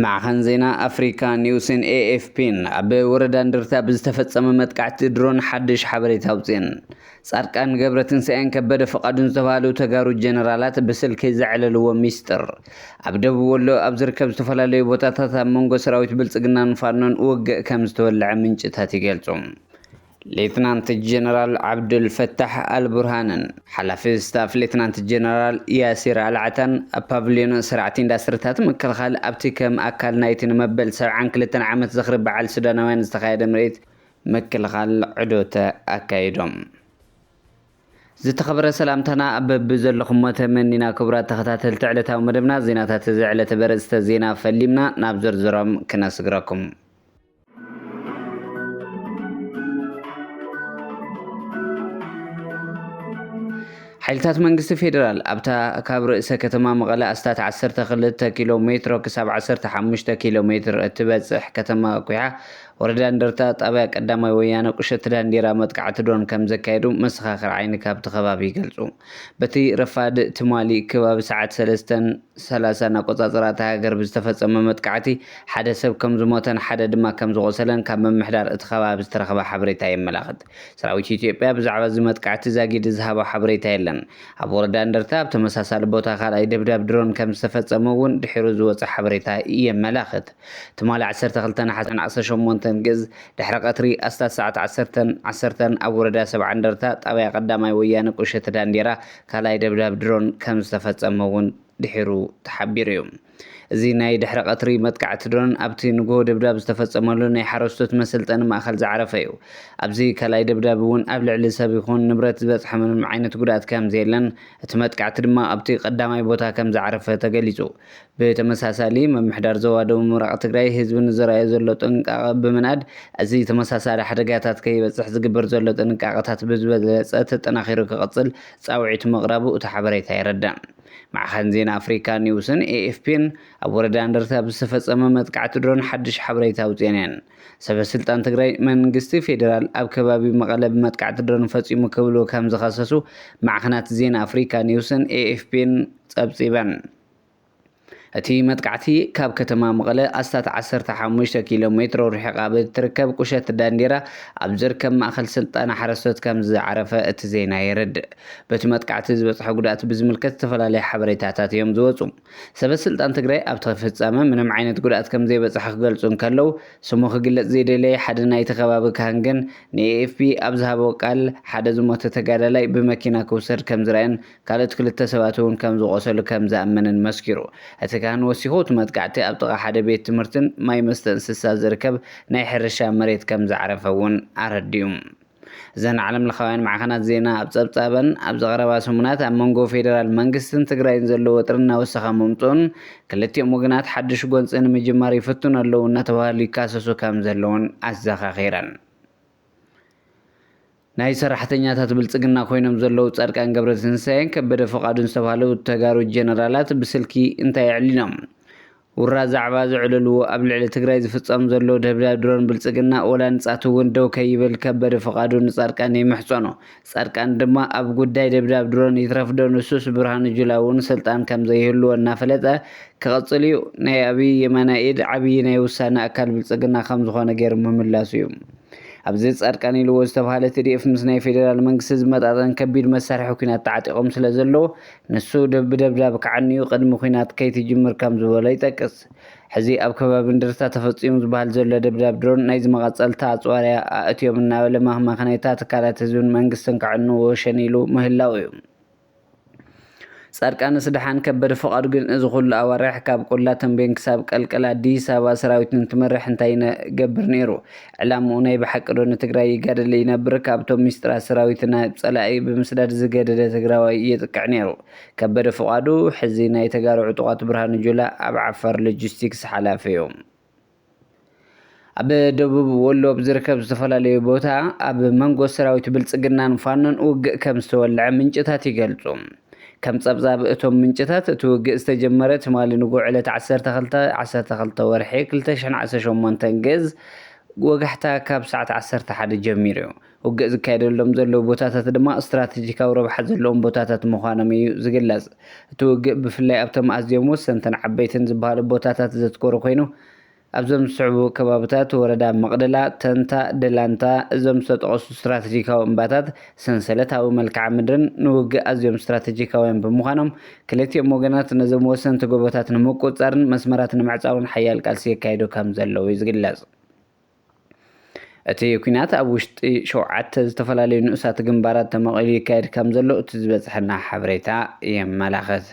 ማዕኸን ዜና ኣፍሪካ ኒውስን ኤኤፍፒን ኣብ ወረዳ እንድርታ ብዝተፈፀመ መጥቃዕቲ ድሮን ሓድሽ ሓበሬታ ኣውፅኤን ፃድቃን ገብረትንሳኤን ከበደ ፍቓዱን ዝተባሃሉ ተጋሩ ጀነራላት ብስልኪ ዘዕለልዎ ሚስጥር ኣብ ደቡብ ወሎ ኣብ ዝርከብ ዝተፈላለዩ ቦታታት ኣብ መንጎ ሰራዊት ብልጽግናን ፋኖን ውግእ ከም ዝተወልዐ ምንጭታት ይገልጹ። ሌትናንት ጀነራል ዓብዱል ፈታሕ ኣል ቡርሃንን ሓላፊ ስታፍ ሌትናንት ጀነራል ያሲር ኣል ዓታን ኣብ ፓቭልዮን ሰራዕቲ ኢንዳስትሪታት ምክልኻል ኣብቲ ከም ኣካል ናይቲ ንመበል ሰብዓን ክልተን ዓመት ዝኽሪ በዓል ሱዳናውያን ዝተኻየደ ምርኢት ምክልኻል ዑዶት ኣካይዶም። ዝተኸበረ ሰላምታና በብዘለኹሞ ተመኒና ክቡራት ተኸታተልቲ ዕለታዊ መደብና ዜናታት እዚ ዕለተ በርእስተ ዜና ፈሊምና ናብ ዝርዝሮም ክነስግረኩም። ሓይልታት መንግስቲ ፌዴራል ኣብታ ካብ ርእሰ ከተማ መቐለ ኣስታት 12 ኪሎ ሜትሮ ክሳብ 15 ኪሎ ሜትር እትበፅሕ ከተማ ኩሓ ወረዳ እንደርታ ጣብያ ቀዳማይ ወያነ ቁሸት ዳንዴራ መጥቃዕቲ ድሮን ከም ዘካየዱ መሰኻኽር ዓይኒ ካብቲ ከባቢ ይገልፁ። በቲ ረፋድ ትማሊ ከባቢ ሰዓት ሰለስተን ሰላሳን ኣቆፃፅራ እታ ሃገር ብዝተፈፀመ መጥቃዕቲ ሓደ ሰብ ከም ዝሞተን ሓደ ድማ ከም ዝቖሰለን ካብ ምምሕዳር እቲ ከባቢ ዝተረኸበ ሓበሬታ የመላኽት። ሰራዊት ኢትዮጵያ ብዛዕባ እዚ መጥቃዕቲ ዛጊድ ዝሃቦ ሓበሬታ የለን። ኣብ ወረዳ እንደርታ ኣብ ተመሳሳሊ ቦታ ካልኣይ ደብዳብ ድሮን ከም ዝተፈፀመ እውን ድሒሩ ዝወፀ ሓበሬታ የመላኽት። ትማሊ ዓሰርተ ክልተ ነሓሰ ዕስራን ዓሰርተ ሸሞንተን ግእዝ ድሕሪ ቀትሪ ኣስታት ሰዓት ዓሰርተን ዓሰርተን ኣብ ወረዳ ሰብዓ እንደርታ ጣብያ ቀዳማይ ወያነ ቁሸት ዳንዴራ ካልኣይ ደብዳብ ድሮን ከም ዝተፈፀመ እውን ድሒሩ ተሓቢሩ እዩ። እዚ ናይ ድሕሪ ቀትሪ መጥቃዕቲ ድሮን ኣብቲ ንጉሆ ደብዳብ ዝተፈፀመሉ ናይ ሓረስቶት መሰልጠኒ ማእኸል ዝዓረፈ እዩ። ኣብዚ ካልኣይ ደብዳብ እውን ኣብ ልዕሊ ሰብ ይኹን ንብረት ዝበፅሐ ምንም ዓይነት ጉድኣት ከም ዘየለን እቲ መጥቃዕቲ ድማ ኣብቲ ቀዳማይ ቦታ ከም ዝዓረፈ ተገሊፁ። ብተመሳሳሊ ምምሕዳር ዞባ ደቡብ ምብራቕ ትግራይ ህዝቢ ንዘርኣዮ ዘሎ ጥንቃቐ ብምንኣድ እዚ ተመሳሳሊ ሓደጋታት ከይበፅሕ ዝግበር ዘሎ ጥንቃቐታት ብዝበለፀ ተጠናኺሩ ክቕፅል ፃውዒት ምቕራቡ እቲ ሓበሬታ የረድእ። ማዕኸን ዜና ኣፍሪካ ኒውስን ኤኤፍፒን ኣብ ወረዳ እንደርታ ብዝተፈፀመ መጥቃዕቲ ድሮን ሓዱሽ ሓበሬታ ኣውፂኤን እየን። ሰበስልጣን ትግራይ መንግስቲ ፌዴራል ኣብ ከባቢ መቐለ ብመጥቃዕቲ ድሮን ፈፂሙ ክብሉ ከምዝኸሰሱ ማዕኸናት ዜና ኣፍሪካ ኒውስን ኤኤፍፒን ፀብፂበን። እቲ መጥቃዕቲ ካብ ከተማ መቐለ ኣስታት ዓሰርተ ሓሙሽተ ኪሎ ሜትሮ ርሒቓ ብእትርከብ ቁሸት ዳንዴራ ኣብ ዝርከብ ማእኸል ስልጠና ሓረስቶት ከምዝዓረፈ እቲ ዜና የረድእ። በቲ መጥቃዕቲ ዝበፅሐ ጉድኣት ብዝምልከት ዝተፈላለዩ ሓበሬታታት እዮም ዝወፁ። ሰበስልጣን ትግራይ ኣብቲ ፍፃመ ምንም ዓይነት ጉድኣት ከምዘይበፅሐ ክገልፁ እንከለው፣ ስሙ ክግለፅ ዘይደለየ ሓደ ናይቲ ከባቢ ካህን ግን ንኤኤፍፒ ኣብ ዝሃቦ ቃል ሓደ ዝሞተ ተጋዳላይ ብመኪና ክውሰድ ከምዝረኣየን ካልኦት ክልተ ሰባት'ውን ከም ዝቖሰሉ ከም ዝኣመነን መስኪሩ። እቲ ካህን ወሲኹ፣ እቲ መጥቃዕቲ ኣብ ጥቓ ሓደ ቤት ትምህርትን ማይ መስተ እንስሳ ዝርከብ ናይ ሕርሻ መሬት ከም ዝዓረፈ'ውን ኣረዲኡ። እዘን ዓለምለኻውያን ማዕኸናት ዜና ኣብ ጸብጻበን፣ ኣብዚ ቀረባ ሰሙናት ኣብ መንጎ ፌደራል መንግስትን ትግራይን ዘሎ ወጥሪ እናወሰኸ ምምጽኡን ክልቲኦም ወገናት ሓድሽ ጎንጺ ንምጅማር ይፍትኑ ኣለዉ እናተባህሉ ይካሰሱ ከም ዘለዉን ኣዘኻኺረን። ናይ ሰራሕተኛታት ብልፅግና ኮይኖም ዘለዉ ፃድቃን ገብረትንሳኤን ከበደ ፍቃዱን ዝተብሃሉ ተጋሩ ጀነራላት ብስልኪ እንታይ ኣዕሊሎም? ውራ ዛዕባ ዘዕለልዎ ኣብ ልዕሊ ትግራይ ዝፍፀም ዘሎ ደብዳብ ድሮን ብልፅግና ወላ ንፃት እውን ደው ከይብል ከበደ ፍቃዱ ንፃድቃን ይምሕፀኖ ፃድቃን ድማ ኣብ ጉዳይ ደብዳብ ድሮን ይትረፍ ዶ ንሱስ ብርሃኑ ጁላ እውን ስልጣን ከምዘይህልዎ እናፈለጠ ክቅፅል እዩ ናይ ኣብይ የማናይ ኢድ ዓብይ ናይ ውሳነ ኣካል ብልፅግና ከምዝኾነ ገይሩ ምምላሱ እዩ። ኣብዚ ፃድቃን ኢልዎ ዝተብሃለ ትዲኤፍ ምስ ናይ ፌዴራል መንግስቲ ዝመጣጠን ከቢድ መሳርሒ ኩናት ተዓጢቆም ስለ ዘለው ንሱ ብደብዳብ ክዓንዩ ቅድሚ ኩናት ከይትጅምር ከም ዝበሎ ይጠቅስ። ሕዚ ኣብ ከባቢ እንድርታ ተፈፂሙ ዝበሃል ዘሎ ደብዳብ ድሮን ናይዚ መቐፀልታ ኣፅዋርያ ኣእትዮም እናበለ ማህመክነይታ ትካላት ህዝብን መንግስትን ከዕንዎ ሸኒሉ ምህላው እዩ። ፃድቃንስ ደሓን ከበደ ፍቃዱ ግን እዚ ኩሉ ኣዋርሕ ካብ ቆላ ተምቤን ክሳብ ቀልቀል ኣዲስ ኣበባ ሰራዊት እንትመርሕ እንታይ ይነገብር ነይሩ ዕላምኡ ናይ ብሓቂ ዶ ንትግራይ ይጋደል ይነብር ካብቶም ሚስጥራት ሰራዊት ናብ ፀላኢ ብምስዳድ ዝገደደ ትግራዋይ የጥቅዕ ነይሩ ከበደ ፍቃዱ ሕዚ ናይ ተጋሩ ዕጡቃት ብርሃኑ ጁላ ኣብ ዓፋር ሎጂስቲክስ ሓላፊ እዩ። ኣብ ደቡብ ወሎ ኣብ ዝርከብ ዝተፈላለዩ ቦታ ኣብ መንጎ ሰራዊት ብልፅግናን ፋኖን ውግእ ከም ዝተወልዐ ምንጭታት ይገልፁ። ከም ጸብጻብ እቶም ምንጭታት እቲ ውግእ ዝተጀመረ ትማሊ ንጉዕ ዕለት 12 12 ወርሒ 2018 ግዝ ወጋሕታ ካብ ሰዓት 11 ጀሚሩ እዩ። ውግእ ዝካየደሎም ዘለዉ ቦታታት ድማ ስትራተጂካዊ ረብሓ ዘለዎም ቦታታት ምዃኖም እዩ ዝግለጽ። እቲ ውግእ ብፍላይ ኣብቶም ኣዝዮም ወሰንትን ዓበይትን ዝበሃሉ ቦታታት ዘትኮረ ኮይኑ፣ ኣብዞም ዝስዕቡ ከባብታት፣ ወረዳ መቕደላ፣ ተንታ፣ ደላንታ፣ እዞም ዝተጠቐሱ ስትራተጂካዊ እምባታት፣ ሰንሰለታዊ መልክዓ ምድርን ንውግእ ኣዝዮም ስትራተጂካውያን ብምዃኖም፣ ክልቲኦም ወገናት ነዞም ወሰንቲ ጎቦታት ንምቁጽጻርን መስመራት ንምዕጻውን ሓያል ቃልሲ የካይዱ ከምዘለዉ'ዩ ዝግለጽ። እቲ ኲናት ኣብ ውሽጢ ሸውዓተ ዝተፈላለዩ ንኡሳት ግንባራት ተመቒሉ ይካየድ ከምዘሎ እቲ ዝበጽሐና ሓበሬታ የመላኽት።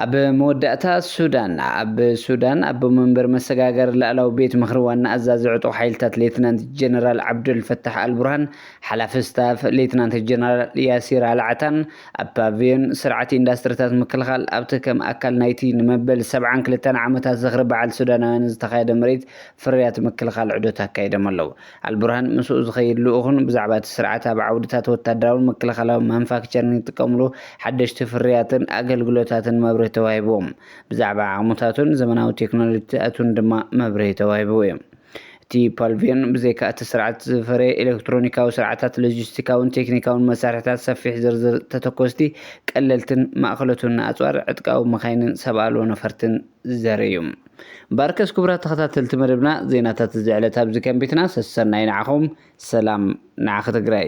ኣብ መወዳእታ፣ ሱዳን ኣብ ሱዳን ኣቦ መንበር መሰጋገሪ ላእላዊ ቤት ምኽሪ ዋና ኣዛዚ ዕጡቕ ሓይልታት ሌትናንት ጀነራል ዓብደልፈታሕ ኣልቡርሃን ሓላፊ ስታፍ ሌትናንት ጀነራል ያሲር ኣልዓታን ኣብ ፓቪዮን ስርዓት ኢንዳስትሪታት ምክልኻል፣ ኣብቲ ከም ኣካል ናይቲ ንመበል ሰብዓን ክልተን ዓመታት ዝኽሪ በዓል ሱዳናውያን ዝተኻየደ ምርኢት ፍርያት ምክልኻል ዑደት ኣካይዶም ኣለዉ። ኣልቡርሃን ምስኡ ዝኸይድ ልኡኽን ብዛዕባ እቲ ስርዓት ኣብ ዓውድታት ወታደራውን ምክልኻላውን ማኑፋክቸሪንግ ዝጥቀምሉ ሓደሽቲ ፍርያትን ኣገልግሎታትን መብርሂ ተዋሂብዎም። ብዛዕባ ዓቕምታቱን ዘመናዊ ቴክኖሎጂታቱን ድማ መብርሂ ተዋሂብዎም። እቲ ፓልቪዮን ብዘይካ እቲ ስርዓት ዝፈረየ ኤለክትሮኒካዊ ስርዓታት፣ ሎጂስቲካውን ቴክኒካውን መሳርሒታት፣ ሰፊሕ ዝርዝር ተተኮስቲ፣ ቀለልትን ማእከሎትን ኣጽዋር፣ ዕጥቃዊ መካይንን ሰብ ኣልቦ ነፈርትን ዘርኢ'ዩ። ባርከስ ኩቡራት ተኸታተልቲ መደብና ዜናታት እዚ ዕለት ኣብዚ ከም ቤትና ሰሰናዩ ንዓኹም ሰላም ንዓኺ ትግራይ።